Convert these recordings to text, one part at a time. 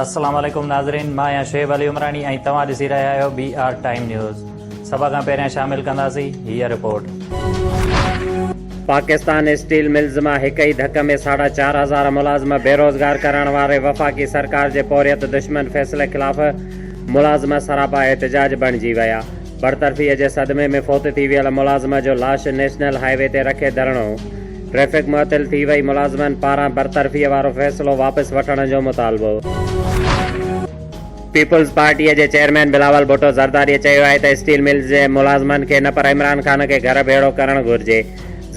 السلام عليڪم ناظرين مان آهيان شعيب علي عمراڻي ۽ توهان ڏسي رهيا آهيو بي آر ٽائيم نيوز سڀ کان پهريان شامل ڪنداسين هيء رپورٽ پاڪستان اسٽيل ملز مان هڪ ئي ڌڪ ۾ ساڍا چار هزار ملازم بيروزگار ڪرڻ واري وفاقي سرڪار جي پورهيت دشمن فيصلي خلاف ملازم سراپا احتجاج بڻجي ويا برطرفيء جي صدمي ۾ فوت ٿي ويل ملازمه جو لاش نيشنل هاء وي تي رکي ڌرڻو، ٽريفڪ معطل ٿي وئي، ملازمن پاران برطرفيء وارو فيصلو واپس وٺڻ جو مطالبو. پيپلز پارٽيء جي چيئرمين بلاول ڀٽو زرداريء چيو آهي ته اسٽيل ملز جي ملازمن کي نه پر عمران خان کي گهر ڀيڙو ڪرڻ گهرجي.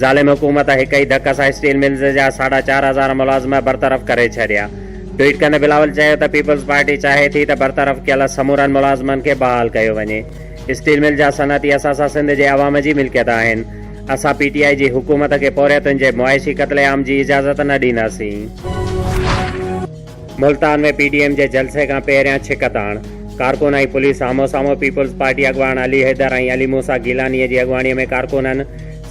ظالم حڪومت هڪ ئي ڌڪ سان اسٽيل ملز جا ساڍا چار هزار ملازم برطرف ڪري ڇڏيا. ٽوئيٽ ڪندي بلاول چيو ته پيپلز پارٽي چاهي ٿي ته برطرف ڪيل سمورن ملازمن کي بحال ڪيو وڃي. اسٽيل مل جا صنعتي اثاثا سنڌ جي عوام جي ملڪيت آهن. اسان پي ٽي آء جي حڪومت کي پورهيتن جي معاشي قتل عام جي اجازت نه ڏينداسين. ملتان ۾ پي ڊي ايم جي جلسي کان پهريان ڇڪ تاڻ ڪارڪن ۽ پوليس آمهون سامهون پيپلز پارٽي اڳواڻ علي حيدر ۽ علي موسيٰ گيلانيء جي اڳواڻيء ۾ ڪارڪنن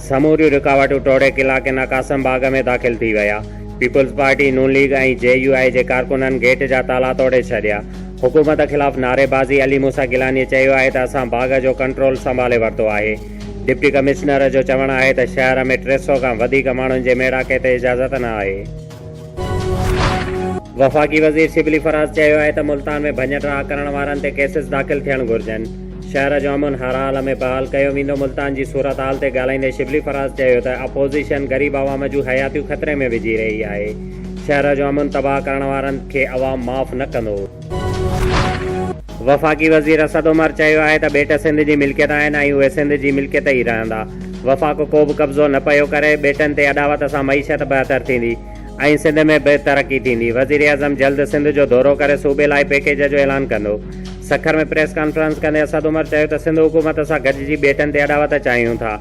سموريون رڪاوٽون ٽوڙي قلعه ڪنا قاسم باغ ۾ داخل ٿي ويا Peoples Party Noon League ۽ J U I جي ڪارڪنن گيٽ جا تالا توڙي ڇڏيا حڪومت خلاف نعري بازي علي موسيٰ گيلانيء چيو آهي ته اسان باغ جو ڪنٽرول سنڀالي ورتو آهي ڊپٽي ڪمشنر جو چوڻ آهي ته شهر ۾ ٽي سئو کان وڌيڪ ماڻهن جي ميڙاڪي تي اجازت نه آهي. وفاقي وزير شبلي فراز چيو آهي ته ملتان ۾ ڀڃ ڊاهه ڪرڻ وارن تي ڪيسز داخل ٿيڻ گهرجن، شهر جو امن هرحال ۾ بحال ڪيو ويندو، ملتان جي صورتحال تي ڳالهائيندي شبلي فراز چيو ته اپوزيشن غريب عوام جون حياتيون خطري ۾ وجهي رهي آهي، شهر جو امن تباهه ڪرڻ وارن کي عوام معاف نه ڪندو. وفاقي وزير اسد عمر چيو آهي ته ٻيٽ سنڌ جي ملڪيت آهن ۽ اهي سنڌ جي ملڪيت ئي رهندا، وفاق ڪو به قبضو نه پيو ڪري، ٻيٽن تي اڏاوت سان معيشت بهتر ٿيندي ۽ سنڌ ۾ به ترقي ٿيندي، وزيراعظم جلد سنڌ جو دورو ڪري صوبي لاء پيڪيج جو اعلان ڪندو، سکر ۾ پريس ڪانفرنس ڪندي اسد عمر چيو ته سنڌ حڪومت سان گڏجي ٻيٽن تي اڏاوت چاهيون ٿا.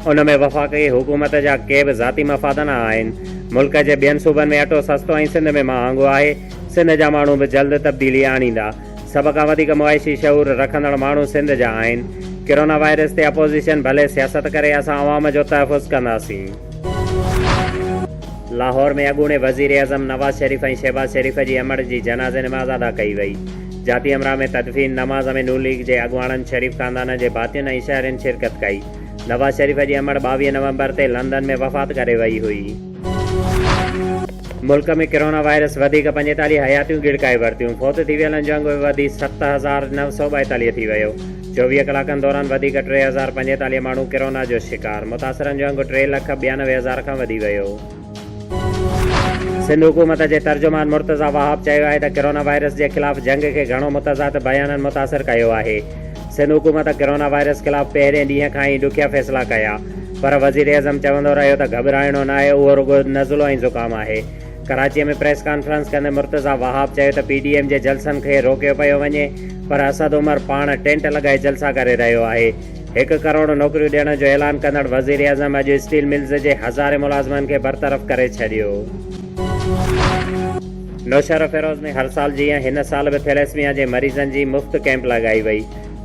ان ۾ وفاقي حڪومت جا ڪي به ذاتي مفاد نه آهن، ملڪ جي ٻين صوبن ۾ اٽو سستو ۽ سنڌ ۾ مهانگو آهي، سنڌ جا ماڻهو به جلد تبديلي آڻيندا، سڀ کان وڌيڪ معاشي شعور رکندڙ ماڻهو سنڌ جا آهن، ڪرونا وائرس تي اپوزيشن ڀلي سياست ڪري اسان عوام جو تحفظ ڪنداسين. لاهور ۾ اڳوڻي وزيراعظم نواز شريف ۽ شهباز شريف جي امڙ جي جنازي نماز ادا ڪئي وئي، جاتي امراهه ۾ تدفين نماز ۾ نون ليگ جي اڳواڻن، شريف خاندان جي ڀاتين ۽ شهرين شرڪت ڪئي. نواز شريف جي امڙ ٻاويهه نومبر تي لندن ۾ وفات ڪري وئي هئي. ملڪ ۾ ڪرونا وائرس وڌيڪ پنجيتاليهه حياتيون ڳڙڪائي ورتيون، فوت ٿي ويلن جو انگ به وڌي ست هزار نو سؤ ٻائيتاليهه ٿي ويو، چوويهه ڪلاڪن دوران وڌيڪ ٽي هزار پنجيتاليهه ماڻهو ڪرونا جو شڪار، متاثرن جو انگ ٽي لک ٻيانوي هزار کان وڌي ويو. سنڌ حڪومت جي ترجمان مرتضيٰ وهاب چيو آهي ته ڪرونا وائرس جي خلاف جنگ کي گهڻو متضاد بيانن متاثر ڪيو آهي، سنڌ حڪومت ڪرونا وائرس خلاف پهرين ڏينهن کان ئي ڏکيا فيصلا ڪيا پر وزيراعظم چوندو رهيو ته گهٻرائڻو ناهي اهو رڳو نزلو ۽ زڪام آهي. ڪراچي ۾ پريس ڪانفرنس ڪندي مرتضيٰ وهاب چيو ته پي ڊي ايم جي جلسن کي روڪيو پيو وڃي پر اسد عمر پاڻ ٽينٽ لڳائي جلسا ڪري رهيو آهي، هڪ ڪروڙ نوڪريون ڏيڻ جو اعلان ڪندڙ وزيراعظم اڄ اسٽيل ملز جي هزارين ملازمن کي برطرف ڪري ڇڏيو. نوشهروفيروز ۾ هر سال جيان هن سال به ٿيليسميا جي مريضن جي مفت ڪئمپ لڳائي وئي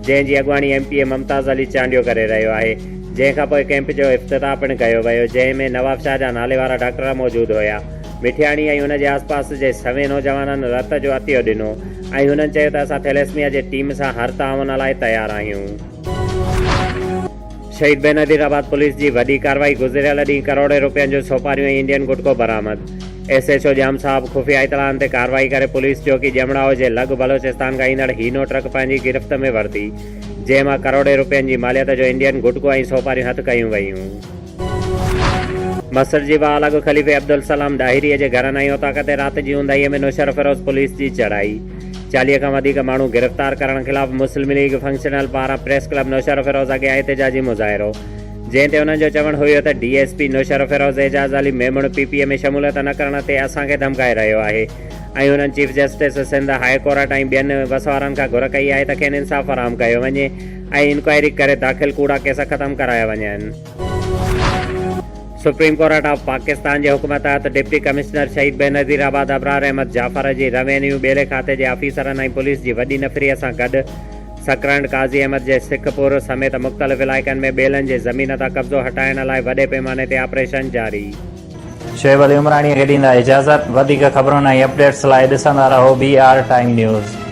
جنهن جي اڳواڻي M P A Mumtaz Ali Chandio ڪري رهيو آهي جنهن کانپوء ڪئمپ جو افتتاح پڻ ڪيو ويو جنهن ۾ نوابشاهه جا ناليوارا ڊاڪٽر موجود هيا. مٺياڻي ۽ هن جي آسپاس جي سوين نوجوانن رت جو عطيو ڏنو ۽ هنن چيو ته اسان ٿيليسميا جي ٽيم سان هر تعاون لاء تيار آهيون. شهيد بين نظير آباد پوليس جي وڏي ڪارروائي، گذريل ڏينهن ڪروڙين روپين جون سوپاريون ۽ انڊين گٽڪو برآمد، S H O Jam Sahib خفيه اطلاعن تي ڪارروائي ڪري پوليس چوڪي ڄمڙائو جي لڳ بلوچستان کان ايندڙ هينو ٽرڪ پنهنجي گرفت ۾ ورتي جنهن مان ڪروڙين روپين جي ماليت جو انڊين گٽڪو ۽ سوپاريون هٿ ڪيون ويون. مسٽ جي بحال اڳ خليفي عبدالسلام ڏاهريء جي گهرانائي اوطاق تي رات جي اونداهيء ۾ نوشهرفيروز پوليس جي چڙهائي، چاليهه کان وڌيڪ ماڻهو گرفتار ڪرڻ خلاف مسلم ليگ فنڪشنل پاران پريس ڪلب نوشهرفيروز اڳيان احتجاجي مظاهرو، جنهن تي انهن جو چوڻ هيو ته D S P Naushahro Feroze Ijaz Ali Memon P P A ۾ شموليت نه ڪرڻ تي اسان کي ڌمڪائي رهيو آهي ۽ هنن chief justice Sindh high court ۽ ٻين وس وارن کان گهر ڪئي آهي ته کين انصاف فراهم ڪيو وڃي. ۽ انڪوائري ڪري داخل ڪوڙا ڪيس ختم ڪرايا وڃن. سپريم ڪورٽ آف پاڪستان جي حڪم تحت ڊپٽي ڪمشنر شهيد بينظير آباد ابرار احمد جعفر جي روينيو ٻيلي کاتي جي آفيسرن ۽ پوليس جي وڏي نفري سان گڏ سڪرنڊ قاضي احمد جي سک پور سميت مختلف علائقن ۾ ٻيلن جي زمين تان قبضو هٽائڻ لاء وڏي پيماني تي آپريشن جاري شعيب علي عمراڻيء کي ڏيندا اجازت. وڌيڪ خبرن ۽ اپڊيٽس لاء ڏسندا رهو بي آر ٽائيم نيوز.